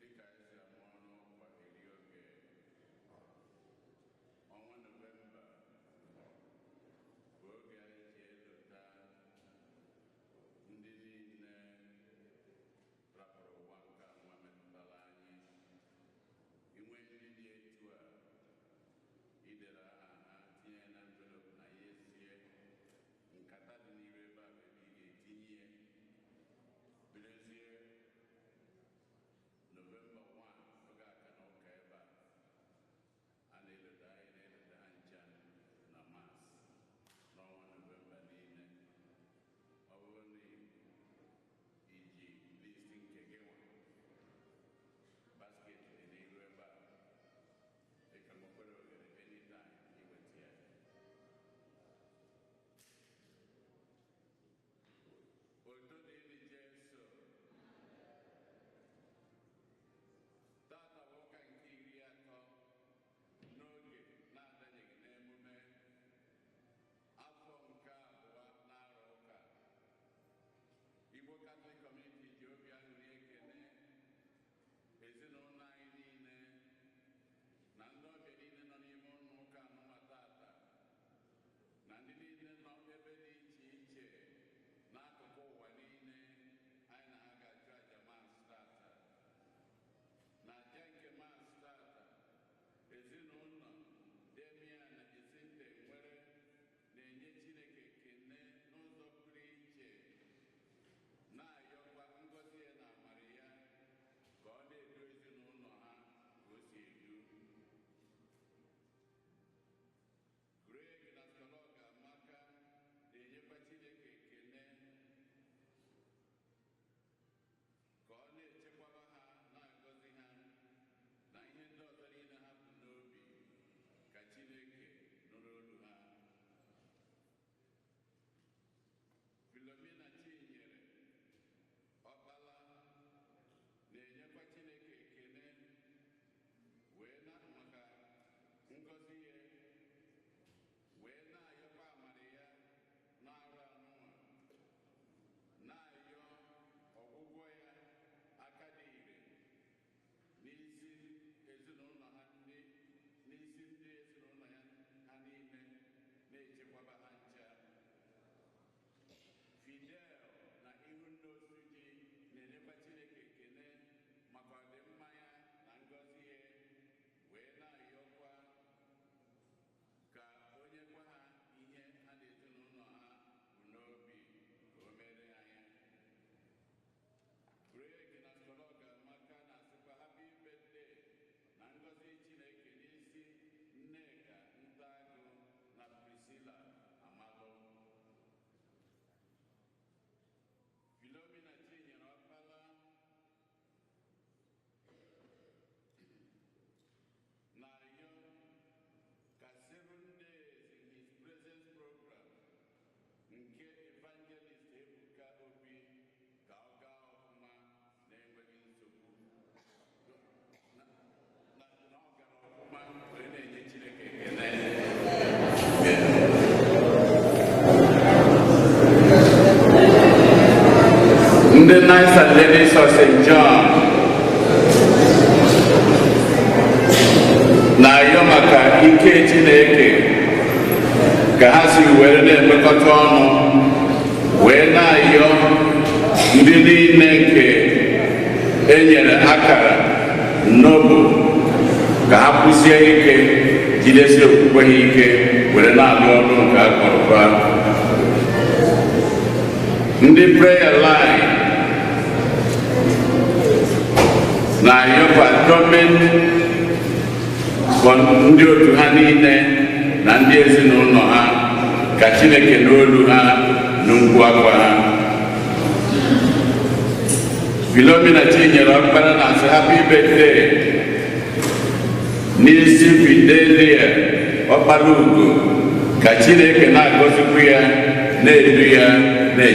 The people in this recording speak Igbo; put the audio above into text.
dịka e si ama unu ọkwa eri oge ọnwa nọvemba bụ oge anyị ji elota ndị niile rapụrụ ụwa nke nwa metụtara anyị i nwee ndị dị etu a i dere aha ha tinye na envelopu na ya esie nkata dị n'iru ebe a bụ ebe ị ga-etinye ya birezie novemba 1 oge aka na ụka ebe a a na-elota anyị na-elota ha ncha na mas n'ọnwa novemba niile ọ bụrụ na i ji list nke gị nwa basket dị n'iru ebe a Otito dịrị Jesu. Taata bụ ụka nke iri atọ n'oge na-adanyeghị n'emume afọ nke abụọ n'arọ ụka Igbo Katọlik Kọmuniti ji obi aṅụrị ekele Ezinụlọ anyị niile na ndị ọbịa niile nọ n'ime ụlọ ụka anụnwa taata na ndị niile nọ ebe dị iche iche n'akụkụ ụwa niile anyị na ha ga-achụ aja mas taata n'aja nke mas taata ezinụlọ Damian na Jacinta Nwere na-enye Chineke ekele n'ụzọ pụrụ iche, na-ayọkwa ngọzi ya na amara ya ka ọ na-edu ezinụlọ ha ka o si edu. Greg na Schola Ọgamaka na-enyekwa Chineke ekele Ka ọ na-echekwaba ha, na-agọzi ha, na ihe ndị ọzọ niile ha bu n'obi, ka Chineke nụrụ olu ha. Filomena Chinyere Ọkpala na-enyekwa Chineke ekele wee na maka ngọzi ya wee na-ayọkwa amara ya n'arọ anụnwa na-ayọ ọgwụgwọ ya aka dị ire n'isi ezinụlọ ha ndị n'isi ndị ezinụlọ ya ha niile na-echekwaba ha ncha Fidel na Ihunna Osuji na-enyekwa Chineke ekele maka ọdịmma ya na ngọzi ya wee na-ayọkwa Ka o nyekwa ha ihe ha na ezinụlọ ha bu n'obi ka o meere ha ya. Greg na Schola Ugoamaka na-asịkwa Happy Birthday na ngọzi Chineke n'isi Nneka Ntagu na Priscilla Amalụ. Philomena Chinyere Okpala. na-arịọ ka seven days in his presence program nke evangelist Ebuka Obi ka ọ gaa ọfụma na-enweghị nsogbu ndị Knights and Ladies of St. John na-ayọ maka ike Chineke ka ha si were na-emekọta ọnụ wee na-ayọ ndị niile nke e nyere akara n'obu ka ha kwụsie ike jidesie okwukwe ha ike were na-alụ ọrụ nke a kpọrọ ha ndị prayer line na-ayọrọ gọọmenti ndị otu ha niile na ndị ezinụlọ ha ka Chineke nụ olu ha nụ mkpu akwa ha Philomena Chinyere Ọkpara na-asị happy birthday n'isi Fidelia Ọkpalaugo ka Chineke na-agọzikwu ya na-edu ya na-eche